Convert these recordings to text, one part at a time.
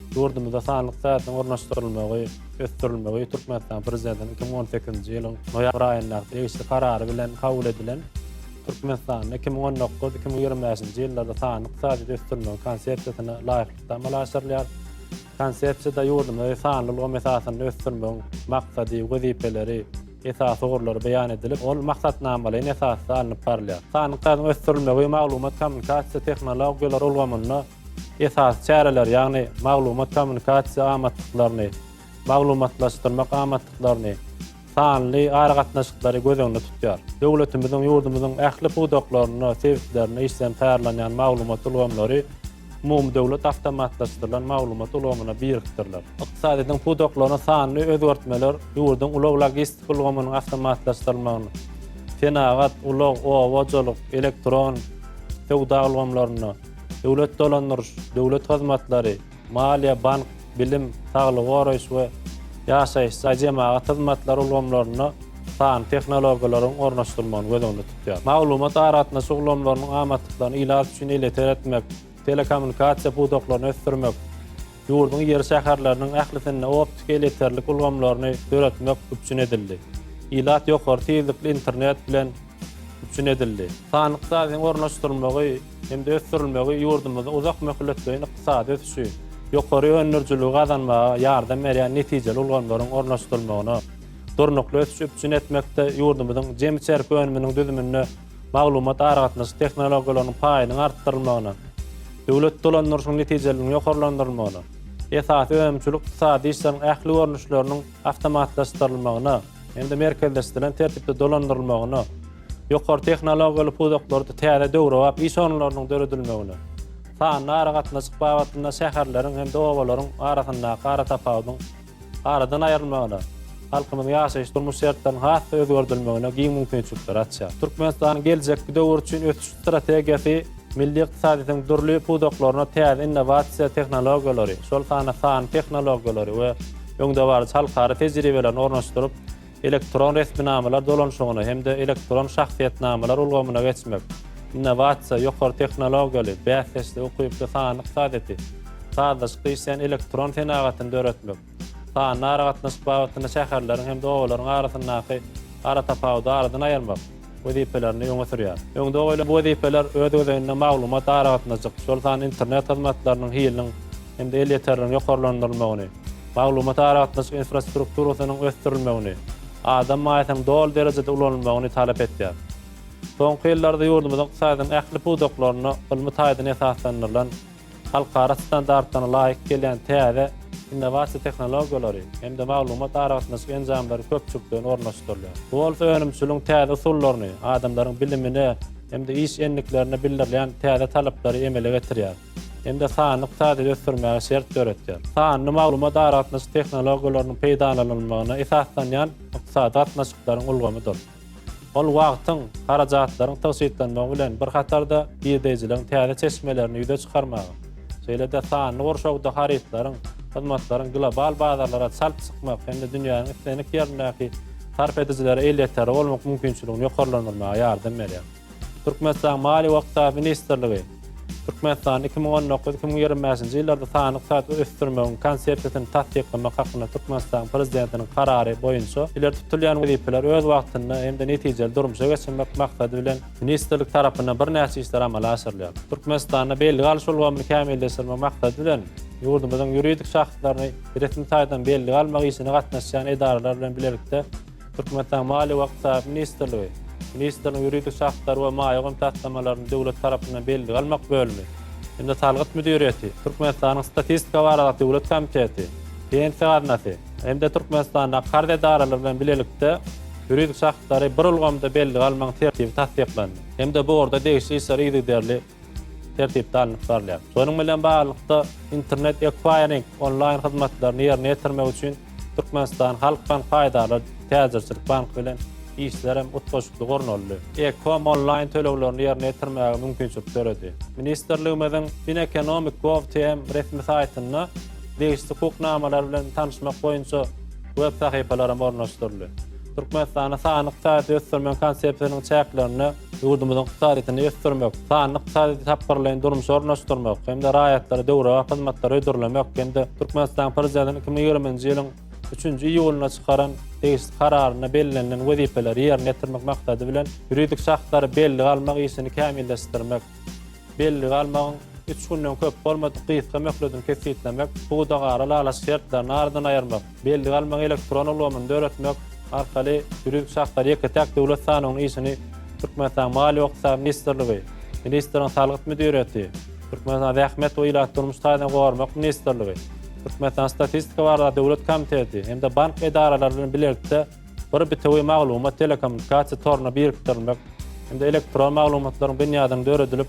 Ýurdumyzda sanly ykdysadyýetiň ornaşdyrylmagy, ösdürilmegi Türkmenistanyň Prezidentiniň iki müň on sekizinji ýylyň noýabr aýyndaky degişli Karary bilen kabul edilen Türkmenistanda iki müň on dokuz, iki müň ýigrimi bäşinji ýyllarda sanly ykdysadyýeti ösdürmegiň Konsepsiýasyna laýyklykda amala aşyrylýar. Konsepsiýada ýurdumyzy sanly ulgam esasynda ösdürmegiň maksady, wezipeleri, esasy ugurlary beýan edilip, ol maksatnamalaýyn esasda alnyp barylýar. Sanly ykdysadyýetiň ösdürilmegi maglumat-kommunikasiýa tehnologiýalary ulgamynda Esasy çäreler, ýagny maglumat-kommunikasiýa amatlyklaryny, maglumatlaşdyrmak amatlyklaryny, sanly aragatnaşyklary göz öňünde tutýar. Döwletimiziň, ýurdumyzyň ähli pudaklarynda, sebitlerinde işlenip taýýarlanýan maglumat ulgamlary umumydöwlet awtomatlaşdyrylan maglumat ulgamyna birikdiriler. Ykdysadyýetiň pudaklarynda sanly özgertmeler ýurduň ulag-logistika ulgamynyň awtomatlaşdyrylmagyny, senagat, ulag, oba hojalyk, elektron söwda ulgamlarynda, Döwlet dolandyryş, döwlet hyzmatlary, maliýe, bank, bilim, saglygy goraýyş we ýaşaýyş jaý, jemagat hyzmatlary ulgamlarynda sanly tehnologiýalaryň ornaşdyrylmagyny göz öňünde tutýar. Maglumat-aragatnaşyk ulgamlarynyň amatlyklaryny ilat üçin elýeter etmek, telekommunikasiýa pudaklaryny ösdürmek, Ýurduň iri şäherleriniň ählisinde optiki elekterlik ulgamlaryny döretmek üpjün edildi. Ilat ýokary tizlikli internet bilen üpjün edildi. Sanly ykdysadyň ornaşdyrylmagy hem-de ösdürilmegi ýurdumyzda uzak möhletleýin ykdysady ösüşi, ýokary öndürijiligi gazanmaga ýardam berýän netijeli ulgamlaryň ornaşdyrylmagyna, durnukly ösüşi üpjün etmekde ýurdumyzyň jemi çerpi önüminiň düzüminde maglumat-aragatnaşyk tehnologiýalarynyň paýynyň artdyrylmagyna, döwlet dolandyryşynyň netijeliligiň ýokarlandyrylmagyna, esasy önümçilik-ykdysady işleriň ähli görnüşleriniň awtomatlaşdyrylmagyna hem-de merkezleşdirilen tertipde dolandyrylmagyna, ýokary tehnologiýaly pudaklarda täze döwrebap iş orunlarynyň döredilmegine, sanly aragatnaşyk babatynda şäherleriň hem-de obalaryň arasyndaky aratapawudyň aradan aýrylmagyna, halkymyzyň ýaşaýyş-durmuş şertleriniň has-da özgerdilmegine giň mümkinçilikleri açýar. Türkmenistanyň geljekki döwür üçin ösüş strategiýasy milli ykdysadyýetiň dürli pudaklaryna täze innowasiýa tehnologiýalary, şol sanda sanly tehnologiýalary we öňdebaryjy halkara tejribelerini ornaşdyryp, elektron resminamalar dolanyşygyna hem-de elektron şahsyýetnamalar ulgamyna geçmek, innowasiýa, ýokary tehnologiýaly, bäsdeşlige ukyply sanly ykdysadyýeti, sazlaşykly işleýän elektron senagatyny döretmek, sanly aragatnaşyk babatynda şäherleriň hem-de obalaryň arasyndaky aratapawudy aradan aýyrmak, wezipelerini öňe sürýär. Öňde goýlan bu wezipeler öz gezeginde maglumat aragatnaşyk, şol sanda internet hyzmatlarynyň hiliniň hem-de elýeterligiň ýokarlandyrylmagyny, maglumat aragatnaşyk infrastrukturasynyň ösdürilmegini, adam maýasynyň doly derejede ulanylmagyny talap edýär. Soňky ýyllarda ýurdumyzyň ykdysadynyň ähli pudaklarynda ylmy taýdan esaslandyrylan halkara standartlaryna laýyk gelýän täze innowasiýa tehnologiýalary hem-de maglumat-aragatnaşyk enjamlary köpçülikleýin ornaşdyrylýar. Bu bolsa önümçiligiň täze usullaryny, adamlaryň bilimine hem-de iş endiklerine bildirilýän täze talaplary emele getirýär hem-de sanly ykdysadyýeti ösdürmäge şert döretýär. Sanly maglumat-aragatnaşyk tehnologiýalarynyň peýdalanylmagyna esaslanýan ykdysady gatnaşyklaryň ulgamydyr. Ol wagtyň, harajatlaryň tygşytlanmagy bilen bir hatarda girdeýjiligiň täze çeşmelerini ýüze çykarmaga, şeýle-de sanly gurşawda harytlaryň, hyzmatlaryň global bazarlara çalt çykmak hem-de dünýäniň islendik ýerindäki sarp edijilere elýeterli bolmak mümkinçiligini ýokarlandyrmaga ýardam berýär. Türkmenistanyň Maliýe we ykdysat ministrligi Türkmenistanda iki müň on dokuz, iki müň ýigrimi bäşinji ýyllarda sanly ykdysaty ösdürmegiň Konsepsiýasyny tassyklamak hakynda Türkmenistanyň Prezidentiniň Karary boýunça ileri tutulýan wezipeleri öz wagtynda hem-de netijeli durmuşa geçirmek maksady bilen ministrlik tarapyndan birnäçe işler amala aşyrylýar. Türkmenistanda belgi alyş ulgamyny kämilleşdirmek maksady bilen, ýurdumyzyň ýuridik şahslaryny resmi taýdan belgi almak işine gatnaşýan edaralar bilen bilelikde Türkmenistanyň Maliýe we ykdysady ministrligi, ministrligiň ýuridik şahslary we maýa goýum taslamalaryny döwlet tarapyndan bellige almak bölümi hem-de salgyt müdiriýeti, Türkmenistanyň Statistika baradaky döwlet komiteti, Pensiýa gaznasy hem-de Türkmenistandaky karz edaralary bilen bilelikde ýuridik şahslary bir ulgamda bellige almagyň tertibi tassyklandy hem-de bu ugurda degişli işler yzygiderli tertipde alnyp barylýar. Şonuň bilen baglylykda, internet ekwaýring onlaýn hyzmatlaryny ýerine ýetirmek üçin Türkmenistan Halk Bank paýdarlar täjirçilik banky bilen işler hem utgaşykly gurnaldy. E-kom onlaýn töleglerini ýerine ýetirmäge mümkinçilik döredi. Ministrligimiziň FinEconomic Gov TM resmi saýtynda degişli hukuk namalar bilen tanyşmak boýunça web sahypalar hem ornaşdyryldy. Türkmenistanda sanly ykdysady ösdürmegiň konsepsiýasynyň çäklerinde Ýurdumyzyň ykdysadyýetini ösdürmek, sanly ykdysadyýeti tapgyrlaýyn durmuşa ornaşdyrmak hem-de raýatlara döwrebap hyzmatlary hödürlemek hem-de Türkmenistanyň Prezidentiniň iki müň ýigrimi nji ýylyň üçünji iýulynda çykaran degişli Kararynda bellenilen wezipeleri ýerine ýetirmek maksady bilen, ýuridik şahslary bellige almak işini kämilleşdirmek, bellige almagyň üç günden köp bolmadyk gysga möhletini kesgitlemek, pudagara lalaç şertlerini aradan aýyrmak, Belli galmagy elektron ulgamyny döretmek arkaly ýüri şahslar ýeke-täk döwlet sanawynyň işini Türkmenistanyň Maliýe-ykdysady ministrligi, ministriň salgyt müdiriýeti, Türkmenistanyň Zähmet we ilaty durmuş taýdan gormak ministrligi, Türkmenistanyň Statistika baradaky döwlet komiteti hem-de bank edaralary bilen bilelikde Bir bitewi maglumat telekommunikasiýa toruna birikdirilmek hem-de elektron maglumatlaryň binýadynyň döredilip,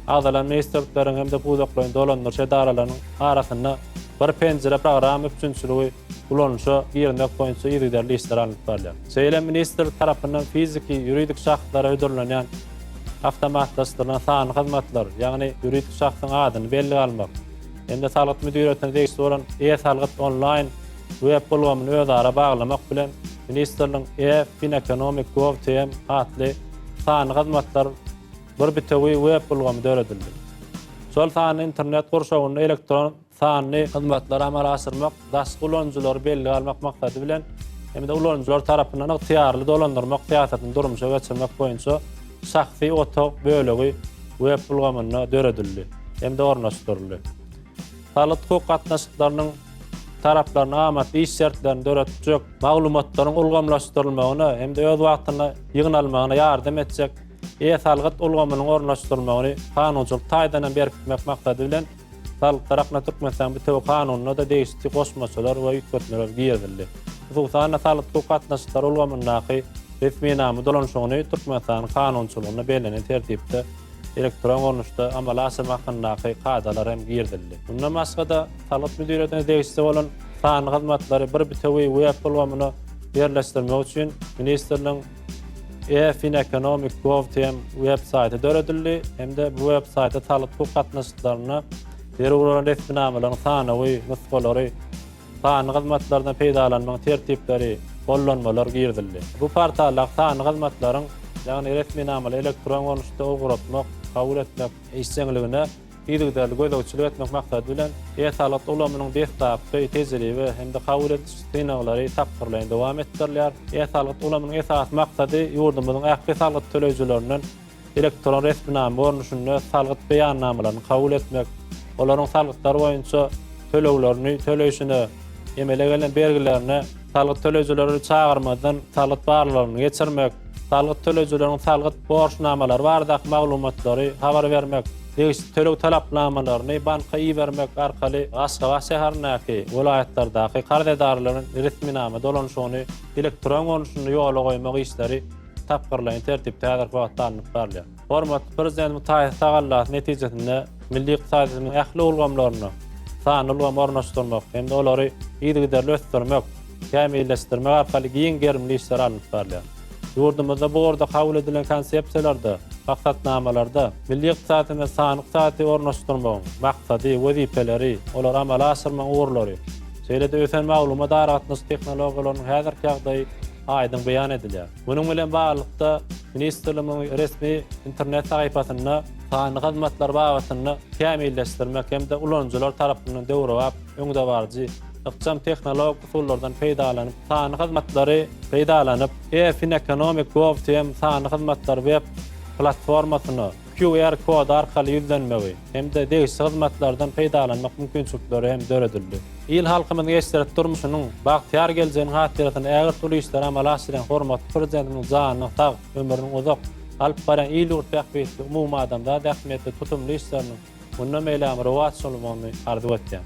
agzalan ministrlikleriň hem-de pudaklaýyn dolandyryş edaralarynyň arasynda Bir penjire programma üpjünçiligi ulanyşa girizmek boýunça yzygiderli işler alnyp barylýar. Şeýle hem ministrlik tarapyndan fiziki, ýuridik şahslara hödürlenýän awtomatlaşdyrylan sanly hyzmatlar, ýagny ýuridik şahsyň adyny bellige almak hem-de salgyt müdiriýetine degişli bolan e-salgyt onlaýn Web ulgamyny özara baglamak bilen, ministrligiň E-FinEconomic Gov TM atly sanly hyzmatlar bir bitewi web ulgamy döredildi. Şol sanly internet gurşawynda elektron sanly hyzmatlary amala aşyrmak, daşky ulanyjylary bellige almak maksady bilen hem-de ulanyjylar tarapyndan ygtyýarly dolandyrmak syýasatyny durmuşa geçirmek boýunça şahsy otag bölegi web ulgamynda döredildi hem-de ornaşdyryldy. Saglyk-hukuk gatnaşyklarynyň taraplaryna amatly iş şertlerini döretjek, maglumatlaryň ulgamlaşdyrylmagyna hem-de öz wagtynda ýygnalmagyna ýardam etjek e-salgyt ulgamynyň ornaşdyrylmagyny kanunçylyk taýdan hem berkitmek maksady bilen, Saglyk tarapyndan Türkmenistanyň bitewi Kanunyna-da degişli goşmaçalar we üýtgetmeler girizildi. Hususan-da, saglyk-hukuk gatnaşyklary ulgamyndaky resminama dolanyşygyny Türkmenistanyň kanunçylygynda bellenen tertipde elektron görnüşde amala aşyrmak hakyndaky kadalar hem girizildi. Mundan başga-da, salgyt müdiriýetine degişli bolan sanly hyzmatlary bir bitewi web ulgamyna ýerleşdirmek üçin ministrligiň e-Fineconomic.gov.tm web saýty döredildi hem-de bu web saýtda salgyt-hukuk gatnaşyklaryna zerur bolan resminamalaryň sanawy, nusgalary, Sanly hyzmatlardan peýdalanmagyň tertipleri, gollanmalar girizildi. Bu portaldaky sanly hyzmatlaryň, ýagny resminamaly elektron görnüşde ugratmak, kabul etmek, işjeňligine yzygiderli gözegçilik etmek maksady bilen, e-salgyt ulgamynyň deslapky tejribe hem-de kabul ediş synaglary tapgyrlaýyn dowam etdirilýär. E-salgyt ulgamynyň esasy maksady ýurdumyzyň ähli salgyt töleýjilerinden elektron resminama görnüşinde salgyt beýannamalaryny kabul etmek, olaryň salgytlar boýunça töleglerini töleýşine, emele gelen bergilerine salgyt töleýjileri çagyrmazdan salgyt barlagyny geçirmek, salgyt töleýjileriň salgyt borçnamalary baradaky maglumatlary habar bermek, degişli töleg talapnamalaryny banka ibermek arkaly Aşgabat şäherindäki, welaýatlardaky karz edaralaryň resminama dolanyşygyny elektron görnüşinde ýola goýmak işleri tapgyrlaýyn tertipde häzirki wagtda alnyp barylýar. Hormatly Prezidentimiziň taýsyz tagallasy netijesinde milli ykdysadyýetimiziň ähli ulgamlaryna sanly ulgamy ornaşdyrmak hem-de olary yzygiderli ösdürmek, kämilleşdirmek arkaly giň gerimli işler alnyp barylýar. Ýurdumyzda bu ugurda kabul edilen konsepsiýalarda, maksatnamalarda milli ykdysadyýetimize sanly ykdysadyýeti ornaşdyrmagyň maksady, wezipeleri, olary amala aşyrmagyň ugurlary, şeýle-de ösen maglumat-aragatnaşyk tehnologiýalarynyň häzirki ýagdaýy, aýdyň beýan edilýär. Munuň bilen baglylykda, ministrligiň resmi internet sahypasynda sanly hyzmatlar babatynda kämilleşdirmek hem-de ulanyjylar tarapyndan döwrebap, öňdebaryjy, ykjam tehnologik usullardan peýdalanyp, sanly hyzmatlary peýdalanyp, E-Fineconomic gov-tm sanly hyzmatlary web platformasyna, QR kody arkaly ýüzlenmegi hem-de degişli hyzmatlardan peýdalanmak mümkinçilikleri hem döredildi. Il-halkymyzyň eşret durmuşynyň, bagtyýar geljeginiň hatyrasyna ägirt uly işleri amala aşyrýan hormatly Prezidentimiziň janynyň sag, ömrüniň uzak, alyp barýan il-ýurt bähbitli, umumadamzat ähmiýetli tutumly işleriniň mundan beýlägem rowaç almagyny arzuw etýän.